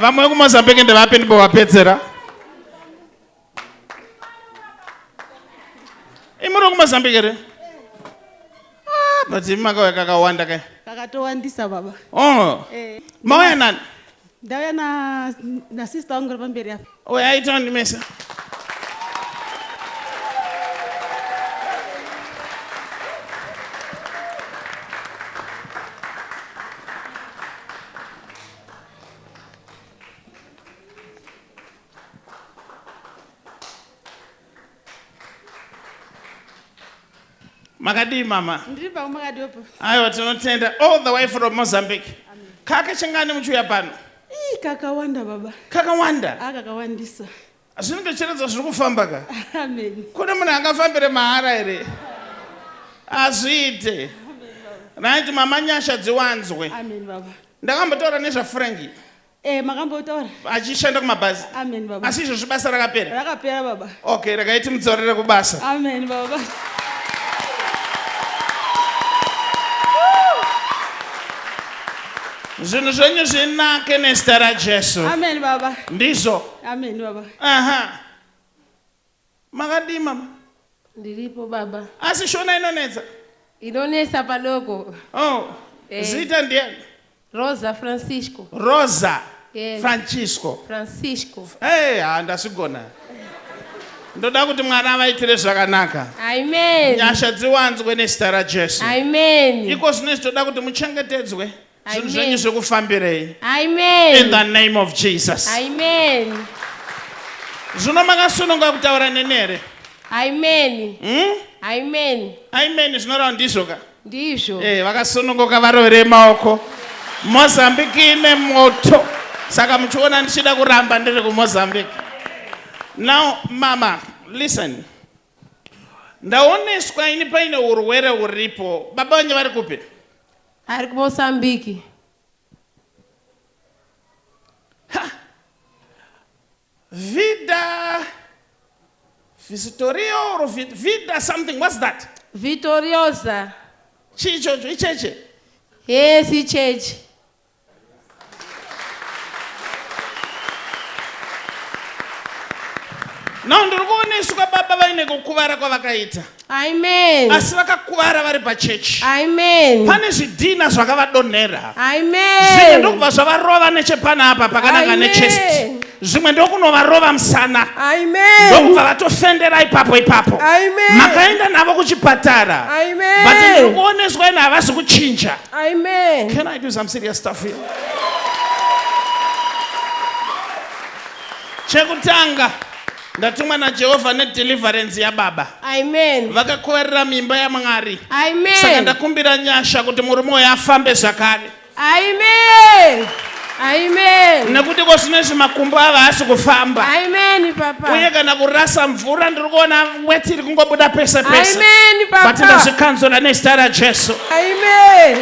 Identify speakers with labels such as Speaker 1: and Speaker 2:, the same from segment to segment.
Speaker 1: vamwe vekumozambique ndevapi ndimbovapedzera imuri wekumozambique here ah, but imi makauya kakawanda kai kakatowandisa baba
Speaker 2: oh. eh.
Speaker 1: mauya nani ndauya
Speaker 2: nasister wangu ri pamberi apa uya aitawo ndimese
Speaker 1: makadii mama aiwa
Speaker 2: tinotenda
Speaker 1: all the way from mozambique kaka chingani muchiuya pano kakawanda
Speaker 2: baba kakawanda ah,
Speaker 1: kakawandisa
Speaker 2: zvinenge chiredzo
Speaker 1: zviri kufamba ka kune munhu
Speaker 2: angafambire
Speaker 1: mahara here hazviite right mama nyasha dziwanzwe
Speaker 2: ndakambotaura
Speaker 1: nezvafranki Eh, makambotora
Speaker 2: achishanda
Speaker 1: kumabhazi amen baba asi izvozvi
Speaker 2: basa rakapera
Speaker 1: rakapera baba
Speaker 2: okay rakaiti mudzorere
Speaker 1: kubasa amen
Speaker 2: baba
Speaker 1: zvinhu zvenyu zvinake nezita rajesu amen baba
Speaker 2: ndizvo Amen
Speaker 1: baba.
Speaker 2: Aha.
Speaker 1: Makadii mama? Ndiripo
Speaker 3: baba. Asi shona inonetsa?
Speaker 1: Inonetsa
Speaker 3: padoko. Oh.
Speaker 1: Eh. Zita ndiani? Rosa
Speaker 3: Francisco. Rosa. Yes.
Speaker 1: Francisco.
Speaker 3: Francisco.
Speaker 1: Eh, hey, ah, ndasigona. ndoda kuti mwana avaitire zvakanaka nyasha
Speaker 3: dziwanzwe
Speaker 1: nezita rajesu iko
Speaker 3: zvino izvi toda kuti
Speaker 1: muchengetedzwe zvinhu zvenyu zvekufambirei in
Speaker 3: the name of
Speaker 1: jesus zvino makasununga kutaura neni here amen
Speaker 3: hmm? amen amen zvinorawo
Speaker 1: ndizvo ka ndizvo eh
Speaker 3: vakasununguka
Speaker 1: varovere maoko mozambique ine moto saka muchiona ndichida kuramba ndiri kumozambique now mama listen ndaoneswa ini paine urwere huripo baba vanye vari kupi Ari
Speaker 3: kuMozambique. Ha!
Speaker 1: Vida Visitorio or Vida something, what's that? Vitoriosa.
Speaker 3: Chicho
Speaker 1: icheche? Yes,
Speaker 3: icheche.
Speaker 1: now ndiri kuona isu kwababa vaine kukuvara kwavakaita amen
Speaker 3: asi vakakuvara
Speaker 1: vari pachechi amen pane
Speaker 3: zvidhina
Speaker 1: zvakavadonhera amen zvimwe
Speaker 3: ndokubva zvavarova
Speaker 1: nechepana apa pakananga nechest zvimwe ndokunovarova musana amen ndokubva
Speaker 3: vatofendera
Speaker 1: ipapo ipapo amen makaenda
Speaker 3: navo
Speaker 1: kuchipatara amen but ndiri
Speaker 3: kuoneswa
Speaker 1: ine havasi kuchinja Amen. Can
Speaker 3: I do some serious
Speaker 1: stuff here? Chekutanga ndatumwa naJehovha nedeliverance yababa. Amen.
Speaker 3: Vakakoverera mimba
Speaker 1: yaMwari. Amen. Saka
Speaker 3: ndakumbira
Speaker 1: nyasha kuti murume uyu afambe zvakare. Amen.
Speaker 3: Amen. nekuti ko zvino
Speaker 1: izvi makumbo ava haasi kufamba Amen, Papa.
Speaker 3: uye kana kurasa
Speaker 1: mvura ndiri kuona weti iri kungobuda pese pese Amen, but Papa.
Speaker 3: ndazvikanzura
Speaker 1: nezita rajesu Amen.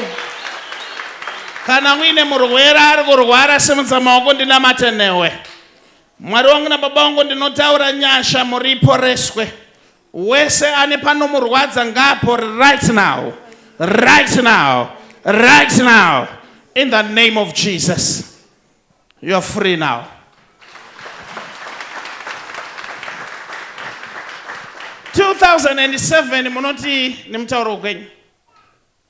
Speaker 1: kana muine murwere ari kurwara simudza maoko ndinamate newe mwari wangu nababa wangu ndinotaura nyasha muriporeswe Wese ane panomurwadza ngaapore right now. Right now. Right now. In the name of Jesus. You are free now. Two thousand and seven munoti nemutauro kwenyu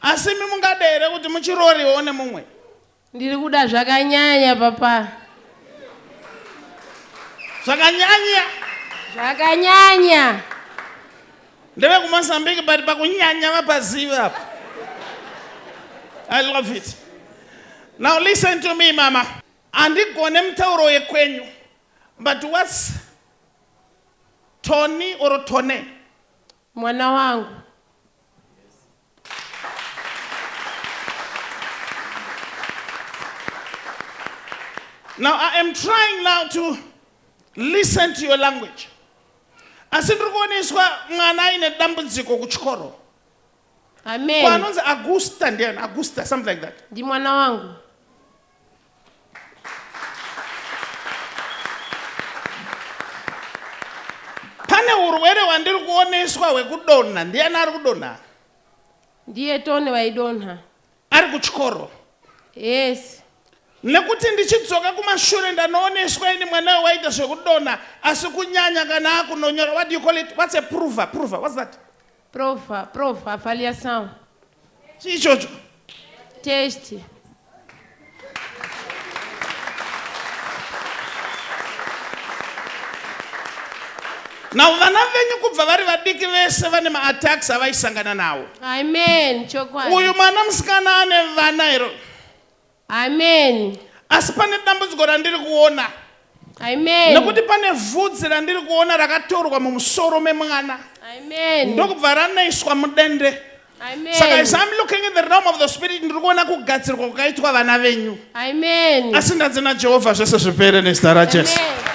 Speaker 1: Asi imi mungade here kuti muchirooriwo nemumwe? Ndiri kuda
Speaker 3: zvakanyanya papa.
Speaker 1: Zvakanyanya?
Speaker 3: Zvakanyanya.
Speaker 1: Ndeve kuMozambique but pakunyanya vapaziva apa. I love it. Now listen to me mama. Andigone mutauro yekwenyu but what's Tony or Tone? Mwana
Speaker 3: wangu.
Speaker 1: Now I am trying now to listen to your language. Asi ndiri kuoneswa mwana aine dambudziko kuchikoro.
Speaker 3: Amen. Kwanonzi Augusta
Speaker 1: ndiani? Augusta something like that. Ndi mwana wangu. pane urwere hwandiri kuoneswa hwekudonha ndiyani ari kudonha ndiye
Speaker 3: tone vaidonha ari kuchikoro
Speaker 1: yes nekuti ndichidzoka kumashure ndanooneswa ini mwana we waita zvekudonha asi kunyanya kana akunonyora what do you call it what's a prover prover what's that Prof, prof
Speaker 3: avalia sound. Chii
Speaker 1: ichocho?
Speaker 3: Test.
Speaker 1: Now vana venyu kubva vari vadiki vese vane maattacks avaisangana nawo. Amen. Chokwadi.
Speaker 3: Uyu mwana musikana
Speaker 1: ane vana here? Amen.
Speaker 3: Asi pane
Speaker 1: dambudziko randiri kuona. Amen.
Speaker 3: Nekuti pane
Speaker 1: vhudzi randiri kuona rakatorwa mumusoro memwana. Amen.
Speaker 3: Ndokubva ranoiswa
Speaker 1: mudende. Amen. Saka as
Speaker 3: I'm looking
Speaker 1: in the realm of the spirit ndiri kuona kugadzirwa kwakaitwa vana venyu. Amen. Asi
Speaker 3: ndanzi naJehovha
Speaker 1: zvese zvipere nezita raJesu. Amen.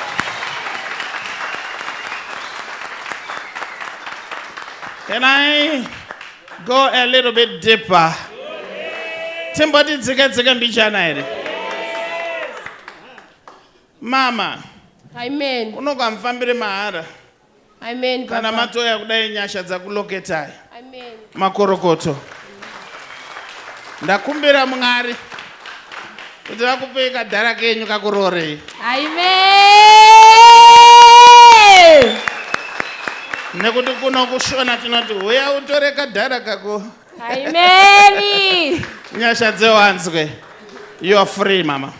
Speaker 1: Can I Go a little bit deeper. Timboti dzika dzika mbichana here? Mama. Amen.
Speaker 3: Unoka mfambire
Speaker 1: mahara. Amen.
Speaker 3: Kana matoya
Speaker 1: kudai nyasha dzakuloketai. Amen.
Speaker 3: Makorokoto.
Speaker 1: Ndakumbira Mwari. kuti vakupei kadhara kenyu kakuroorei aime nekuti kuno kushona tinoti huya utore kadhara kako aimeni
Speaker 3: nyasha
Speaker 1: dzewanzwe youare free mama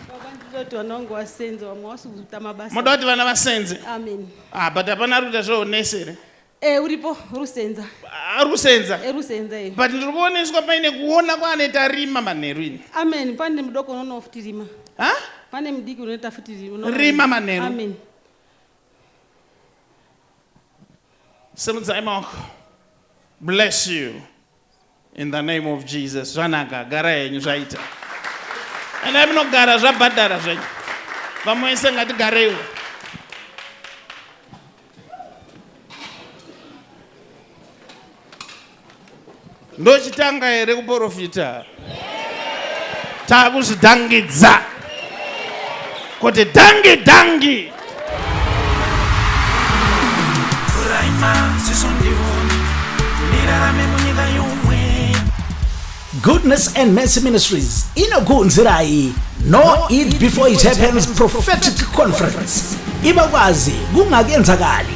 Speaker 1: ndoti vana vangu
Speaker 2: vasenzi vamwe vasi kuita mabasa muda kuti vana vasenze
Speaker 1: amen ah
Speaker 2: but hapana ari
Speaker 1: kuita zveunesi here Eh, uripo
Speaker 2: rusenza Ah, rusenza
Speaker 1: Eh, rusenza eh. but
Speaker 2: ndiri kuoneswa paine
Speaker 1: kuona kwaane tarima manheru ini amen pane mudoko
Speaker 2: unoona futi rima ha pane
Speaker 1: mudiki unoita
Speaker 2: futi rima unoona- Rima manheru.
Speaker 1: amen simudzai maoko bless you In the name of Jesus. Zvanaka, gara henyu zvaita. And I'm not gara zvabhadhara zvenyu. Vamwe ese ngatigareiwo. Ndochitanga here kuporofita? takuzvidhangidza kuti dhangi dhangi
Speaker 4: goodness and mercy ministries inokuunzirai no it before it happens prophetic conference ibakwazi kungakenzakali